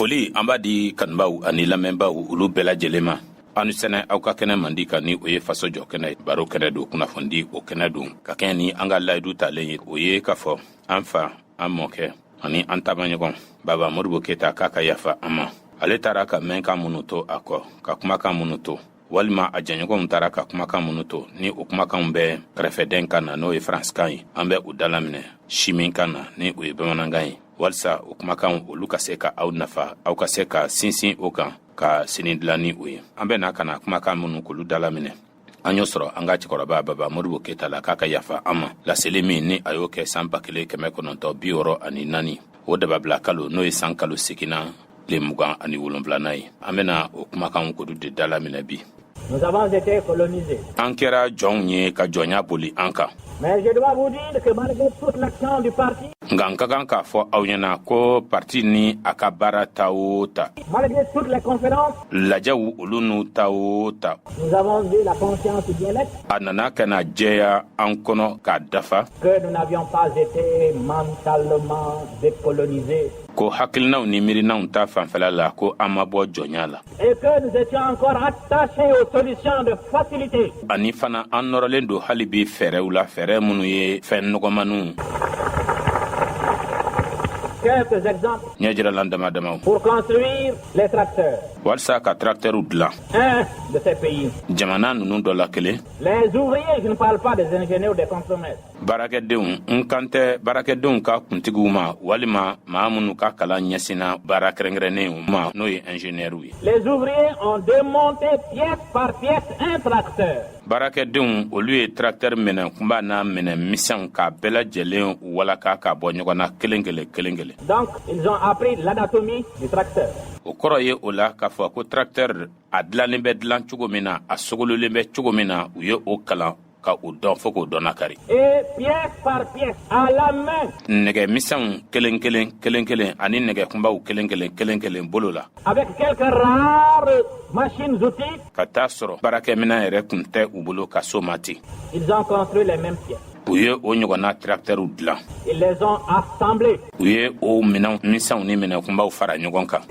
Foli an b'a di kanubaw ani lamɛnbaw olu bɛɛ lajɛlen ma aw ni sɛnɛ aw ka kɛnɛ mandi kan ni o ye faso jɔ kɛnɛ baro kɛnɛ don kunnafoni o kɛnɛ don ka kɛɲɛ ni an ka layidu talen ye o ye k'a fɔ an fa an mɔkɛ ani an taamaɲɔgɔn baba modibo keyita k'a ka yafa an ma ale taara ka mɛnkan minnu to a kɔ ka kumakan minnu to walima a jɛɲɔgɔnw taara ka kumakan minnu to ni o kumakanw bɛ kɛrɛfɛden kan na n'o ye faransikan ye an bɛ u dalaminɛ simin kan na ni o ye bamanankan ye walisa o kumakanw olu ka se ka aw nafa aw ka se ka sinsin o kan ka sini dilan ni o ye an bɛ na ka na kumakan minnu k'olu dalaminɛ an y'o sɔrɔ an ka cɛkɔrɔba baba modibo keyita la k'a ka yafa an ma laseli min ni a y'o kɛ san ba kelen kɛmɛ kɔnɔntɔ bi wɔɔrɔ ani naani o dababila kalo n'o ye san kalo seginna tile mugan ani wolonfilana ye an bena o kumakan kodu de da laminɛ bi an kɛra jɔnw ye ka jɔnya boli an kan nka n ka kan k'a fɔ aw ɲɛna ko parti ni a ka baara ta o ta lajɛw olu n'u ta o ta a nana ka na jɛya an kɔnɔ k'a dafa ko hakilinaw ni miirinanw ta fanfɛla la ko an ma bɔ jɔnya la ani fana an nɔrɔlen don hali bi fɛɛrɛw la fɛɛrɛ minnu ye fɛn nɔgɔmaniw ɲɛ jiralan dama damaw walisa ka trakitɛriw dilan jamana ninnu dɔ la kelen baarakɛdenw n kan tɛ baarakɛdenw ka kuntigiw ma walima maa minnu ka kalan ɲɛsinna baara kɛrɛnkɛrɛnnenw ma n'o ye injeniyɛriw ye les ouvriers ont démonté pièce par pièce un tracteur baarakɛdenw olu ye tracteur minɛ kunba n'a minɛ misɛnw k'a bɛɛ lajɛlen walaka ka bɔ ɲɔgɔn na kelen kelen kelen kelen donc ils ont appris l'anatomie du tracteur o kɔrɔ ye o la k'a fɔ ko tracteur a dilannen bɛ dilan cogo min na a sogololen bɛ cogo min na u ye o kalan ka u dɔn fo k'o dɔn kari nɛgɛ miw kelen- kelen kelen- kelen ani nɛgɛ kunbaw kelen- kelen kelen- kelen bolo la ka t' sɔrɔ baarakɛmin yɛrɛ tun tɛ u bolo ka so ma ten u ye o ɲɔgɔnna kiraratɛrw dilan u ye o minɛn miw ni minɛ kunbaw fara ɲɔgɔn kan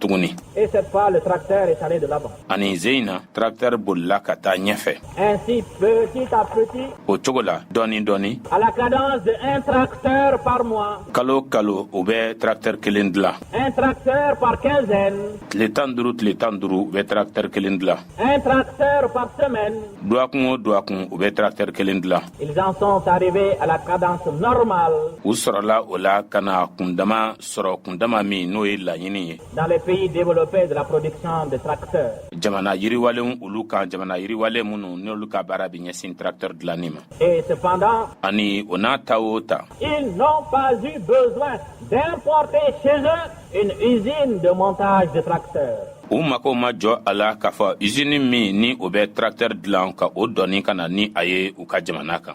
tuguni ani ze in na tarakitɛri bolila ka taa ɲɛfɛ o cogo la dɔɔni dɔɔni kalo kalo u bɛ tarakitɛri kelen dilan tile tan duuru tile tan duuru u bɛ tarakitɛri kelen dilan duwakun o duwakun u bɛ tarakitɛri kelen dilan u sɔrɔla o la ka na kundama sɔrɔ kun dama min n'o ye laɲini ye jamana yiriwalen olu kan jamana yiriwale minnu n'olu ka baara bɛ ɲɛsin tractɛr dilanni ma ani o n'a ta o ta u mago ma jɔ a la k'a fɔ izini min ni o bɛ tractɛr dilan ka o dɔɔni ka na ni a ye u ka jamana kan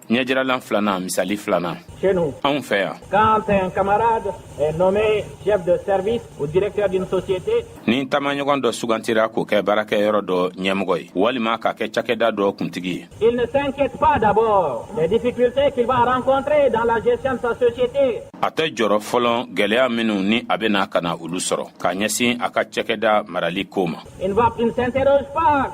ɲɛjiralan filanan misali filanan chez nous anw fɛ yan quand un camarade est nommé chef de service ou directeur d'une société ni taamaɲɔgɔn dɔ sugantira k'o kɛ baarakɛyɔrɔ dɔ ɲɛmɔgɔ ye walima k'a kɛ cakɛda dɔ kuntigi ye il ne s'inquiète pas d'abord des difficultés qu'il va rencontrer dans la gestion de sa société a tɛ jɔrɔ fɔlɔ gwɛlɛya minnu ni a bɛna ka na olu sɔrɔ ka ɲɛsin a ka cakɛda marali ko ma il ne s'interroge pas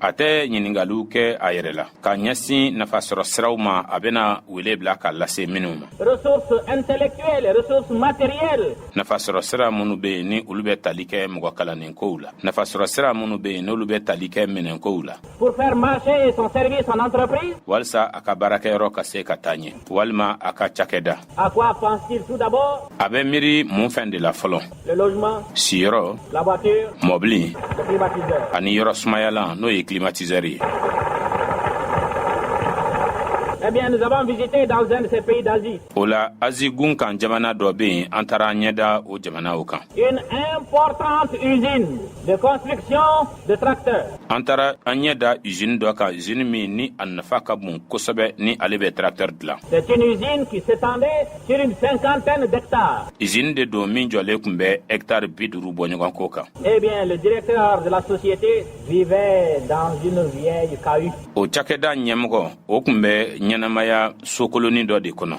A tɛ ɲininkaliw kɛ a yɛrɛ la ka ɲɛsin nafa sɔrɔ siraw ma a bɛna wele bila ka lase minnu ma ressources intellectuelles ressources matérielles nafa sɔrɔ sira minnu bɛ yen ni olu bɛ tali kɛ mɔgɔ kalannen kow la nafa sɔrɔ sira minnu bɛ yen n'olu bɛ tali kɛ minɛn kow la pour faire marcher son service en entreprise walisa a ka baarakɛyɔrɔ ka se ka taa ɲɛ walima a ka cakɛda A quoi pense-t-il tout d'abord A bɛ miiri mun fɛn de la fɔlɔ? Le logement, siyɔrɔ, la voiture, mɔbili, le climatiseur. ani yɔrɔ sumayalan n'o ye climatiseur ye. Eh bien, nous avons visité dans un de ces pays d'Asie O la, Azi gun kan jamana dɔ bɛ yen, an taara an ɲɛ da o jamana o kan. une importante usine de construction An taara an ɲɛ da z dɔ ka z min ni a nafa ka bon kosɛbɛ ni ale bɛ taratari dilan z de don min jɔlen tun bɛ etari bi duuru bɔ ɲɔgɔn kɔ kan o cakɛda ɲɛmɔgɔ o tun bɛ ɲɛnɛmaya sokolonin dɔ de kɔnɔ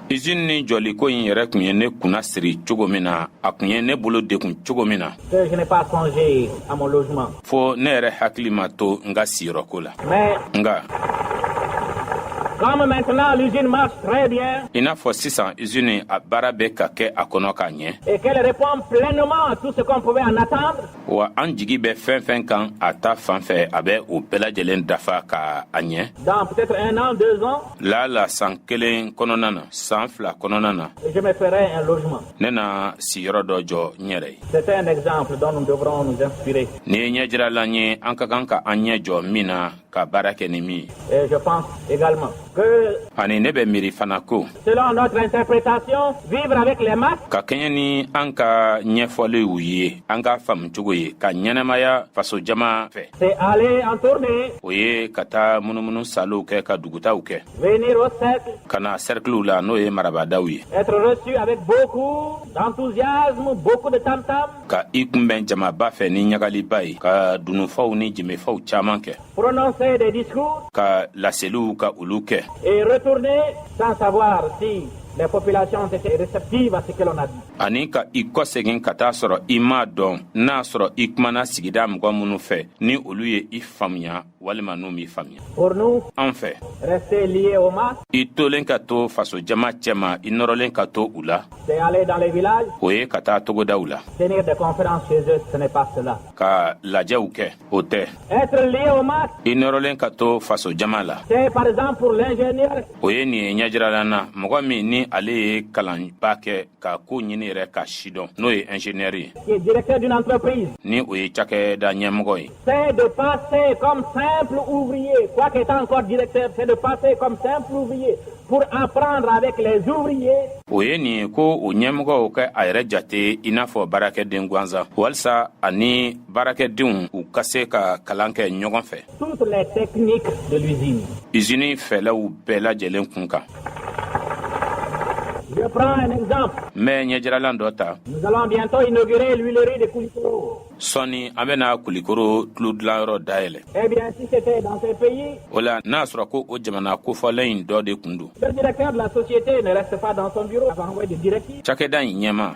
izini ni jɔliko in yɛrɛ tun ye ne kunna siri cogo min na a tun ye ne bolo dekun cogo min na fo ne yɛrɛ hakili ma to n ka siyɔrɔko la nka i n'a fɔ sisan izini a baara bɛ ka kɛ a kɔnɔ k'a ɲɛ wa an jigi bɛ fɛn fɛn kan a ta fan fɛ a bɛ o bɛɛ lajɛlen dafa ka a ɲɛ lala san kelen kɔnɔna na san fila kɔnɔna na ne na siyɔrɔ dɔ jɔ n yɛrɛ ye ni ye ɲɛjiralan ye an ka kan ka an ɲɛ jɔ min na ka baara kɛ ni min ye ani ne bɛ miiri fana ko ka kɛɲɛ ni an ka ɲɛfɔliw ye an ka faamucogo ye ka ɲɛnɛmaya fasojama fɛ o ye ka taa munumunu salow kɛ ka dugutaw kɛ ka na sɛrikiliw la n'o ye marabadaw ye ka i kunbɛn jamaba fɛ ni ɲagaliba ye ka dununfaw ni jimifaw caaman kɛ ka laseliw ka olu kɛ ani ka i kɔ segin ka taa sɔrɔ i m'a dɔn n'a sɔrɔ i kumana sigida mɔgɔ minnu fɛ ni olu ye i faamuya walima n'u m'i faamuya an fɛ i tolen ka to faso jama cɛma i nɔrɔlen ka to u la o ye ka taa togodaw la ka lajɛw kɛ o tɛ i nɔrɔlen ka to faso jama la o ye nin ye ɲɛjiralan na mɔgɔ min ni ale ye kalanba kɛ ka ko ɲini yɛrɛ k'a sidɔn n'o ye ingénieur ye qui est directeur d'une entreprise ni o ye cakɛda ɲɛmɔgɔ ye c'est de passer comme simple ouvrier quoique étant encore directeur c'est de passer comme simple ouvrier pour apprendre avec les ouvriers o ye nin ye ko o ɲɛmɔgɔw ka a yɛrɛ jate i n'a fɔ baarakɛden gansan walisa a ni baarakɛdenw u ka se ka kalan kɛ ɲɔgɔn fɛ Izini in fɛlaw bɛɛ lajɛlen kun kan n bɛ ɲɛjiralan dɔ ta sɔɔni an bɛna kulikoro tulodilanyɔrɔ dayɛlɛ eh o la n'a y'a sɔrɔ ko o jamana kofɔlen in dɔ de kun don cakɛda in ɲɛma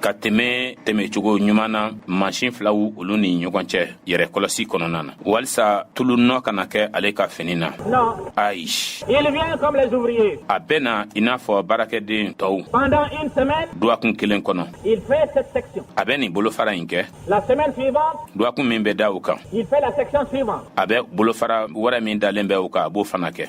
ka tɛmɛ tɛmɛcogo ɲuman na mansin filaw olu ni ɲɔgɔn cɛ yɛrɛ kɔlɔsi kɔnɔna na walisa tulu nɔ kana kɛ ale ka fini na ayi a bɛ na i n'a fɔ baarakɛden tɔw duwakun kelen kɔnɔ a bɛ nin bolofara in kɛ duwakun min bɛ da u kan a bɛ bolofara wɛrɛ min dalen bɛ u kan a b'o fana kɛ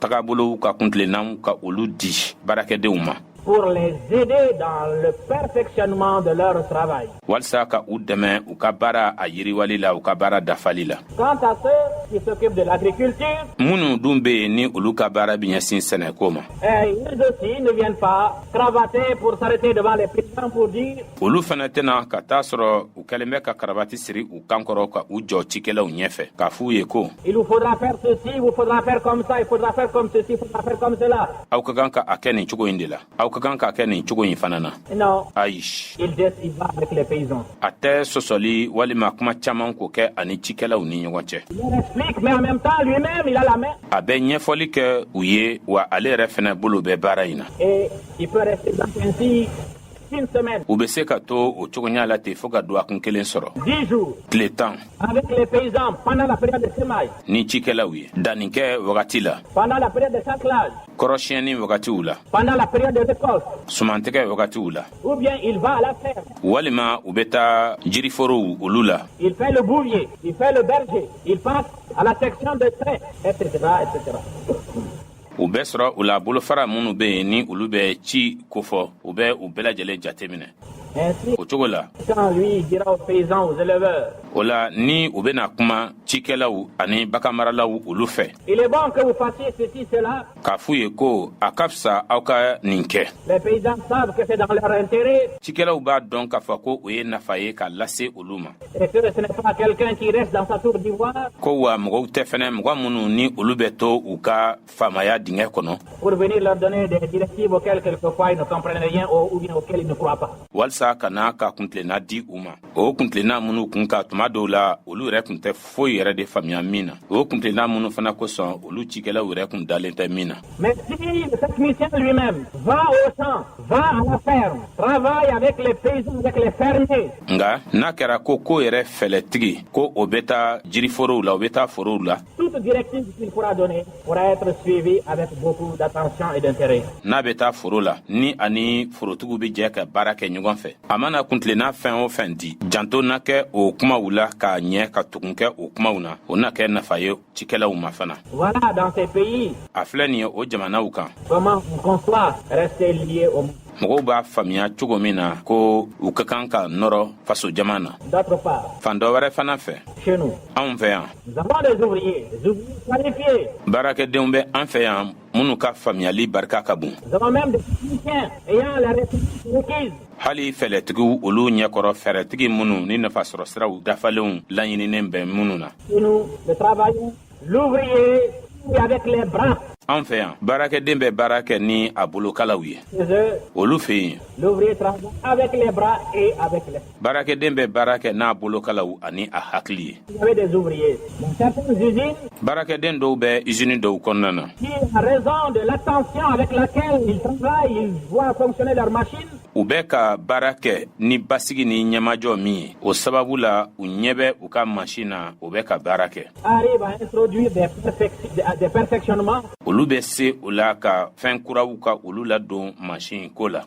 tagabolow ka kuntilennaw ka olu di baarakɛdenw ma pour les aider dans le perfectionnement de leur travail. Walsa ka u dɛmɛ u ka baara a yiriwali la u ka baara dafali la. Quant à ceux qui s'occupent de l'agriculture, minnu dun bɛ yen ni olu ka baara bɛ ɲɛsin sɛnɛko ma. Eh, ils aussi ne viennent pas cravatés pour s'arrêter devant les paysans pour dire. Olu fana tɛ na ka t'a sɔrɔ u kɛlen bɛ ka karabati siri u kan kɔrɔ ka u jɔ cikɛlaw ɲɛfɛ k'a f'u ye ko aw ka kan ka a kɛ nin cogo in de la aw ka kan k'a kɛ nin cogo in fana na ayi a tɛ sɔsɔli walima kuma caaman ko kɛ a ni cikɛlaw ni ɲɔgɔn cɛ a bɛ ɲɛfɔli kɛ u ye wa ale yɛrɛ fɛnɛ bolo bɛ baara in na U bɛ se ka to o cogoya la ten fo ka don a kun kelen sɔrɔ tile tan ni cikɛlaw ye dankɛ wagati la kɔrɔsiyɛnni wagatiw la sumantigɛ wagatiw la walima u bɛ taa jiriforow olu la u bɛ sɔrɔ u la bolofara minnu bɛ yen ni olu bɛ ci kofɔ u bɛ u bɛɛ lajɛlen jateminɛ o cogo la o la ni u bɛna kuma cikɛlaw ani baganmaralaw olu fɛ k'a f'u ye ko a ka fisa aw ka nin kɛ cikɛlaw b'a dɔn k'a fɔ ko o ye nafa ye ka lase olu ma Ko wa mɔgɔw tɛ fɛnɛ mɔgɔ minnu ni olu bɛ to u ka faamaya dingɛ kɔnɔ walisa ka n'a ka kuntina di u ma o kuntina minnu kun ka tuma dɔw la olu yɛrɛ tun tɛ foyi yɛrɛ de faamuyaya min na o kuntina minnu fana kosɔn olu cikɛlaw yɛrɛ tun dalen tɛ min na Mais si ce technicien lui-même va au champ, va à la ferme, travaille avec les paysans, avec les fermiers. Nga n'a kɛra ko k'o yɛrɛ fɛɛlɛtigi ko o bɛ taa jiriforow la o bɛ taa forow la. Toute directive qu'il pourra donner pourra être suivie avec beaucoup d'attention et d'intérêt. N'a bɛ taa foro la ni a ni forotigiw bɛ jɛ ka baara kɛ ɲɔgɔn fɛ. A mana kuntilenna fɛn o fɛn di janto na kɛ o kumaw la ka ɲɛ ka tugun kɛ o kumaw na o na kɛ nafa ye cikɛlaw ma fana voilà dans ces pays a filɛ nin ye o jamanaw kan comment on conçoit rester lié au mɔgɔw b'a faamuya cogo min na ko u ka kan ka nɔrɔ faso jama na d'autre part fan dɔ wɛrɛ fana fɛ chez nous anw fɛ yan nous avons des ouvriers des ouvriers qualifiés baarakɛdenw bɛ an fɛ yan minnu ka faamuyali barika ka bon hali fɛɛlɛtigiw olu ɲɛkɔrɔ fɛɛrɛtigi minnu ni nafasɔrɔ siraw dafalenw laɲininen bɛ minnu na an fɛ yan baarakɛden bɛ baara kɛ ni a bolokalaw ye olu fɛ yen baarakɛden bɛ baara kɛ n'a bolokalaw ani a hakili ye baarakɛden dɔw bɛ izini dɔw kɔnɔna na u bɛ ka baara kɛ ni basigi ni ɲɛmajɔ min ye o sababu la u ɲɛ bɛ u ka mansin na u bɛ ka baara kɛ olu bɛ se o la ka fɛn kuraw ka olu ladon mansin ko la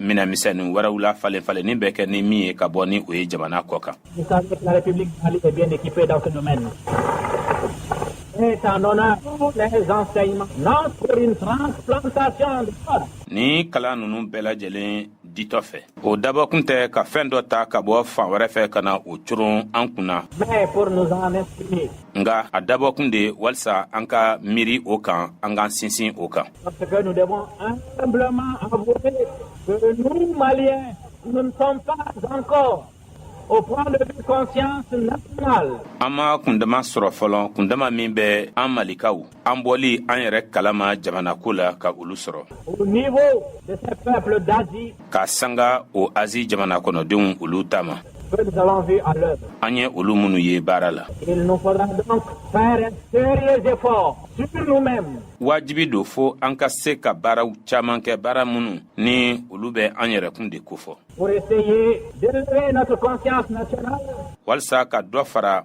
minɛnmisɛnnin wɛrɛw la falen falenni bɛ kɛ ni min ye ka bɔ ni o ye jamana kɔ kan. Ni kalan ninnu bɛɛ lajɛlen ditɔ fɛ o dabɔkun tɛ ka fɛn dɔ ta ka bɔ fan wɛrɛ fɛ ka na o coron an kunna nka a dabɔkun de walisa an ka miiri o kan an ka sinsin o kan Parce que nous devons humblement avouer que nous, Maliens, nous ne sommes pas encore au point de vue conscience nationale. An ma kundama sɔrɔ fɔlɔ kundama min bɛ an malikaw an bɔli an yɛrɛ kalama jamanako la ka olu sɔrɔ. Au niveau de ces peuples d'Asie k'a sanga o azi jamana kɔnɔdenw olu ta ma an ye olu minnu ye baara la wajibi don fo an ka se ka baaraw caaman kɛ baara minnu ni olu bɛ an yɛrɛkun de kofɔ walisa ka dɔ fara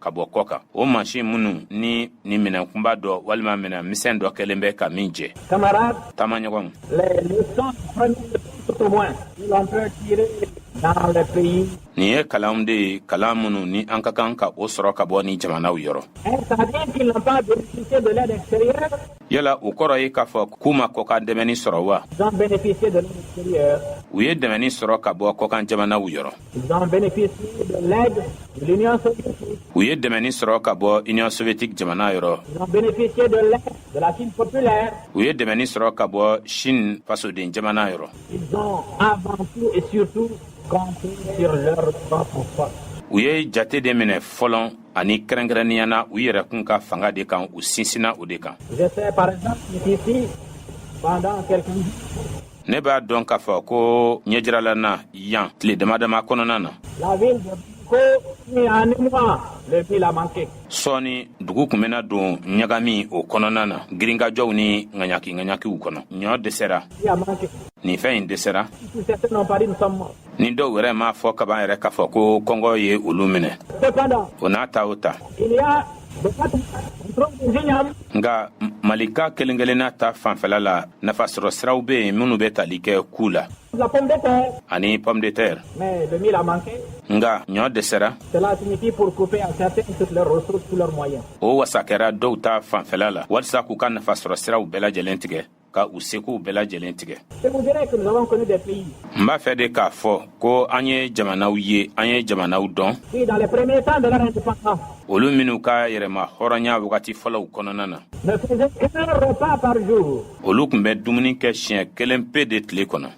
ka bɔ kɔ kan o mansin minnu ni ni minɛn kunba dɔ walima minɛn misɛn dɔ kɛlen bɛ ka min jɛ tamaɲɔgɔnw nin ye kalanw de ye kalan minnu ni an ka kan ka o sɔrɔ ka bɔ nin jamanaw yɔrɔ yala o kɔrɔ ye k'a fɔ k'u ma kɔkan dɛmɛni sɔrɔ wa u ye dɛmɛni sɔrɔ ka bɔ kɔkan jamanaw yɔrɔ U ye dɛmɛni sɔrɔ ka bɔ Union soviétique jamana yɔrɔ u ye dɛmɛni sɔrɔ ka bɔ Chine fasoden jamana yɔrɔ u ye jate de minɛ fɔlɔ ani kɛrɛnkɛrɛnnenya na u yɛrɛ kun ka fanga de kan u sinsinna o de kan ne b'a dɔn k'a fɔ ko ɲɛjiralan na yan tile dama dama kɔnɔna na la ville de Bamako est en émoi le mil a manqué sɔɔni dugu kun bɛna don ɲagami o kɔnɔna na girinkajɔw ni ŋaɲaki ŋaɲakiw kɔnɔ ɲɔ dɛsɛra nin fɛn in dɛsɛra ni dɔw wɛrɛ m'a fɔ kaban yɛrɛ k'a fɔ ko kɔngɔ ye olu minɛ o n'a ta o ta nga malika kelen kelenna ta fanfɛla la nafasɔrɔ siraw bɛ yen minnu bɛ tali kɛ ku la ani pomme de terre nga ɲɔ dɛsɛra o wasa kɛra dɔw ta fanfɛla la walisa k'u ka nafasɔrɔ siraw bɛɛ lajɛlen tigɛ ka u sekow bɛɛ lajɛlen tigɛ n b'a fɛ de k'a fɔ ko an ye jamanaw ye an ye jamanaw dɔn olu minnu ka yɛrɛmahɔrɔnya wagati fɔlɔw kɔnɔna na olu kun bɛ dumuni kɛ siɲɛ kelen pe de tile kɔnɔ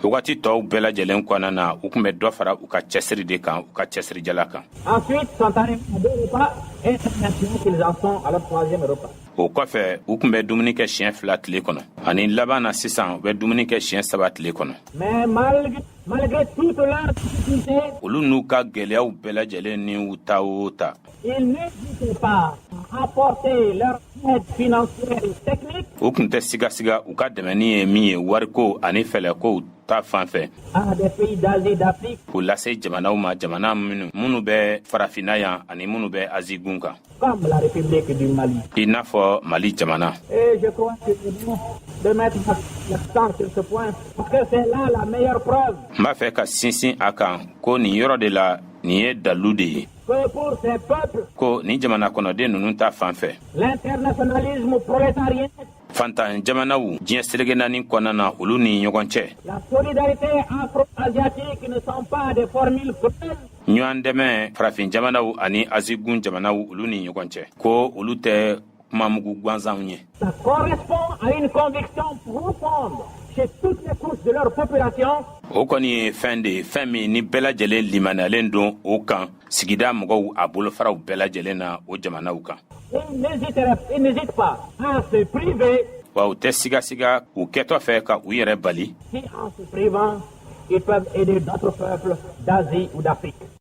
wagati tɔw bɛɛ lajɛlen kɔnɔna na u kun bɛ dɔ fara u ka cɛsiri de kan u ka cɛsirijala kan o kɔfɛ u kun bɛ dumuni kɛ siɲɛ fila tile kɔnɔ ani laban na sisan u bɛ dumuni kɛ siɲɛ saba tile kɔnɔ olu n'u ka gwɛlɛyaw bɛɛ lajɛlen ni u ta o ta u kun tɛ sigasiga u ka dɛmɛni ye min ye wariko ani fɛlɛkow ta fan fɛ k'u lase jamanaw ma jamana minnu minnu bɛ farafinna yan ani minnu bɛ azi gun kan I n'a fɔ mali jamana n b'a fɛ ka sinsin a kan ko nin yɔrɔ de la nin ye dalu de ye ko nin jamana kɔnɔden ninnu ta fan fɛ fantan jamanaw diɲɛ selege naani kɔnɔna na olu ni ɲɔgɔn cɛ ɲɔgɔn dɛmɛ farafin jamanaw ani azi gun jamanaw olu ni ɲɔgɔn cɛ ko olu tɛ kumamugu gansanw ye o kɔni ye fɛn de ye fɛn min ni bɛɛ lajɛlen limaniyalen don o kan sigida mɔgɔw a bolofaraw bɛɛ lajɛlen na o jamanaw kan wa u tɛ sigasiga u kɛtɔ fɛ ka u yɛrɛ bali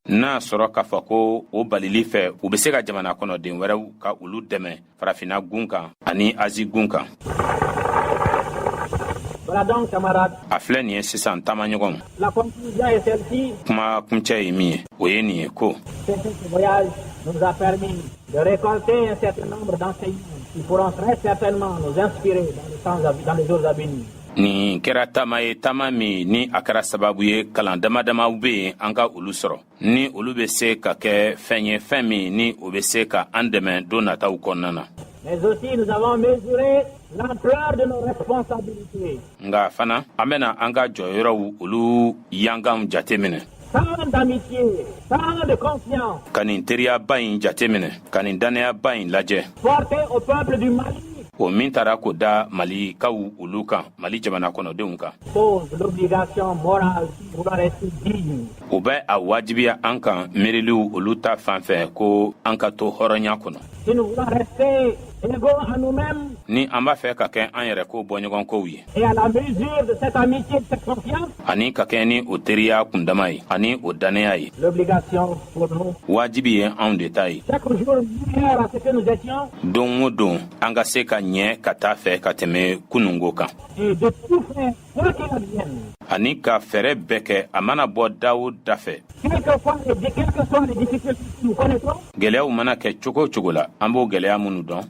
N'a sɔrɔ k'a fɔ ko o balili fɛ u bɛ se ka jamana kɔnɔden wɛrɛw ka olu dɛmɛ farafinna gun kan ani azi gun kan a filɛ nin ye sisan taamaɲɔgɔn kuma kuncɛ ye min ye o ye nin ye ko nin kɛra taama ye taama min ni a kɛra sababu ye kalan damadamaw be yen an ka olu sɔrɔ ni olu be se ka kɛ fɛn ye fɛn min ni o be se ka an dɛmɛ don nataw kɔnɔna na mais aussi nous avons mesuré l'ampleur de nos responsabilités nga fana an bena an ka jɔyɔrɔw olu yanganw jate minɛ ka nin teriyaba in jate minɛ ka nin dannayaba in lajɛ o min taara ko da mali kaw olu kan mali jamana kɔnɔdenw kan u bɛ a wajibiya an kan miiriliw olu ta fan fɛ ko an ka to hɔrɔnya kɔnɔ Ni an b'a fɛ ka kɛ an yɛrɛ ko bɔɲɔgɔn kow ye ani ka kɛ ni o teriya kun dama ye ani o danya ye wajibi ye anw de ta ye don o don an ka se ka ɲɛ ka taa fɛ ka tɛmɛ kununko kan ani ka fɛɛrɛ bɛɛ kɛ a mana bɔ dawo da fɛ gɛlɛyaw mana kɛ cogo o cogo la an b'o gɛlɛya minnu dɔn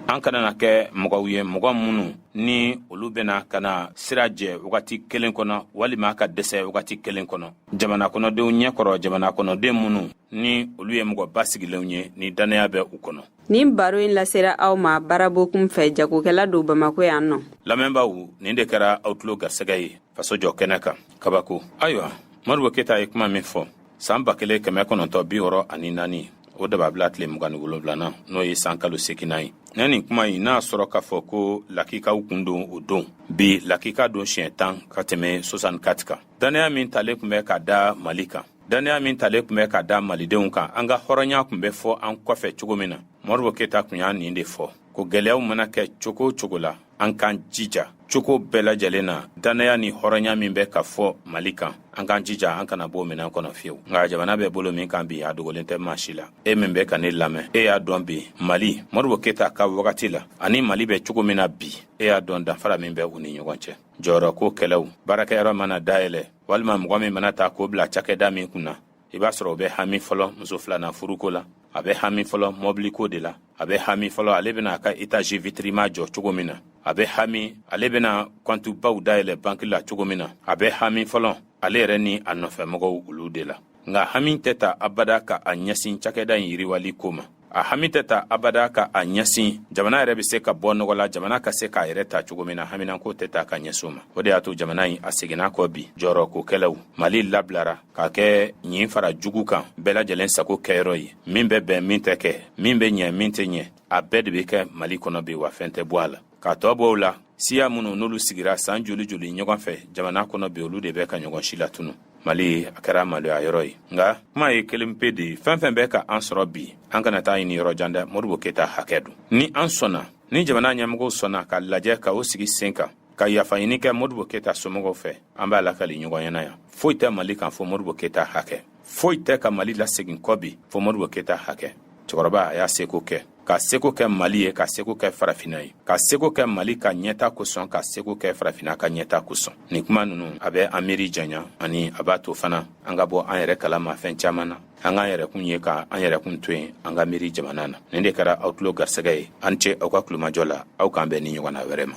an kana na kɛ mɔgɔw ye mɔgɔ minnu ni olu bena ka na sira jɛ wagati kelen kɔnɔ walima ka dɛsɛ wagati kelen kɔnɔ jamana kɔnɔdenw ɲɛ kɔrɔ jamana kɔnɔden minnu ni olu ye mɔgɔ basigilenw ye ni dannaya bɛ u kɔnɔ nin baro in lasera aw ma bara bokun fɛ jagokɛla don bamako yan nɔ lamɛnbaaw nin de kɛra aw tulo garisɛgɛ ye faso jɔ kɛnɛ kan kabako ayiwa moribo keta ye kuma min fɔ san ba kelen kɛmɛ kɔnɔntɔn bi wɔɔrɔ ani naani o dababila tile mugan ni wolonwulanan n'o ye san kalo seginnan ye ni nin kuma in n'a sɔrɔ k'a fɔ ko lakikaw kun don o don bi lakika don siɲɛ tan ka tɛmɛ soixante-quatre kan dannaya min talen kun bɛ ka da mali kan dannaya min talen kun bɛ ka da malidenw kan an ka hɔrɔnya kun bɛ fɔ an kɔfɛ cogo min na moribo keta kun y'a nin de fɔ ko gwɛlɛyaw mana kɛ cogo o cogo la an k'an jija cogo bɛɛ lajɛlen na dannaya ni hɔrɔnya min bɛ ka fɔ mali kan an k'an jija an kana b'o minɛn kɔnɔ fiyewu nka jamana bɛ bolo min kan bi a dogolen tɛ maa si la e min bɛ ka ne lamɛn e y'a dɔn bi mali moribo keta ka wagati la ani mali bɛ cogo min na bi e y'a dɔn danfara min bɛ u ni ɲɔgɔn cɛ jɔyɔrɔko kɛlɛw baarakɛyɔrɔ mana dayɛlɛ walima mɔgɔ min mana ta k'o bila cakɛda min kun na i b'a sɔrɔ o bɛ hami fɔlɔ muso filanan furuko la a bɛ hami fɔlɔ mɔbiliko de la a bɛ hami fɔlɔ ale bɛna a ka etazi vitirima jɔ cogo min na a bɛ hami ale bɛna kɔntubaw dayɛlɛ banki la cogo min na a bɛ hami fɔlɔ ale yɛrɛ ni a nɔfɛmɔgɔw olu de la nka hami tɛ ta abada ka a ɲɛsin cakɛda in yiriwali ko ma a hami tɛ ta abada ka a ɲɛsin jamana yɛrɛ be se ka bɔ nɔgɔ la jamana ka se k'a yɛrɛ ta cogo min na haminanko tɛ ta ka ɲɛsin o ma o de y'a to jamana in a seginna kɔ bi jɔyɔrɔko kɛlɛw mali labilara k'a kɛ ɲin fara jugu kan bɛɛ lajɛlen sago kɛyɔrɔ ye min bɛ bɛn min tɛ kɛ min bɛ ɲɛ min tɛ ɲɛ a bɛɛ de be kɛ mali kɔnɔ bi wa fɛn tɛ bɔ a la k'a tɔ bɔ o la siya minnu n'olu sigira san joli joli ɲɔgɔn fɛ jamana kɔnɔ bi olu de bɛ ka ɲɔgɔn si latunu mali a kɛra maloya yɔrɔ ye nka kuma ye kelen pe de ye fɛn fɛn bɛ ka an sɔrɔ bi an kana taa ɲini yɔrɔ jan dɛ modibo keta hakɛ don ni an sɔnna ni jamana ɲɛmɔgɔw sɔnna k'a lajɛ ka o sigi sen kan ka yafa ɲini kɛ modibo keta somɔgɔw fɛ an b'a lakali ɲɔgɔn ɲɛna yan foyi tɛ mali kan fɔ modibo keta hakɛ foyi tɛ ka mali lasegin kɔ bi fɔ modibo keta hakɛ cɛkɔrɔba a y'a seko kɛ k'a seko kɛ mali ye k'a seko kɛ farafina ye k'a seko kɛ mali ka ɲɛta kosɔn k'a seko kɛ farafina ka ɲɛta kosɔn nin kuma nunu a bɛ an miiri janya ani a b'a to fana an ka bɔ an yɛrɛ kalama fɛn caman na an k'an yɛrɛkun ye ka an yɛrɛkun to yen an ka miiri jamana na nin de kɛra aw tulo garisɛgɛ ye aw ni ce aw ka tulomajɔ la aw k'an bɛn nin ɲɔgɔnna wɛrɛ ma